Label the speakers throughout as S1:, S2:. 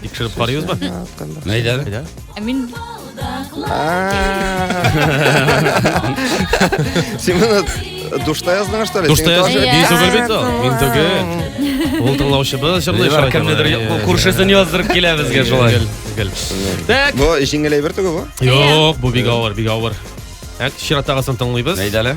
S1: Тикшереп карыйбыз ба?
S2: Әйдә. Әйдә.
S3: Ә мин
S1: Син моны душта яздың, что ли? Душта Син тоже- яздың. Мин түгел
S2: бит ул. Мин түгел. Ул тыңлаучыбыз җырлый Дилбар, кемнедер ку- күршесен
S3: яздырып килә безгә шулай. Так.
S2: Бу җиңеләй бер
S1: түгел бу. Юк, бу бик авыр,
S2: бик авыр. Так, чираттагысын тыңлыйбыз. Әйдә әле.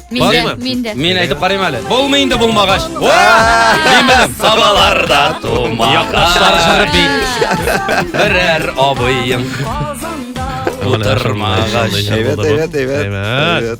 S2: Бармы?
S1: Мин дә.
S4: Мин әйтеп карыйм әле.
S3: Булмый инде булмагач. Димәм, сабаларда тумаган. Якташлар җыры бит. Берәр абыең.
S1: Утырмагач. Әйбәт,
S3: әйбәт, әйбәт. Әйбәт.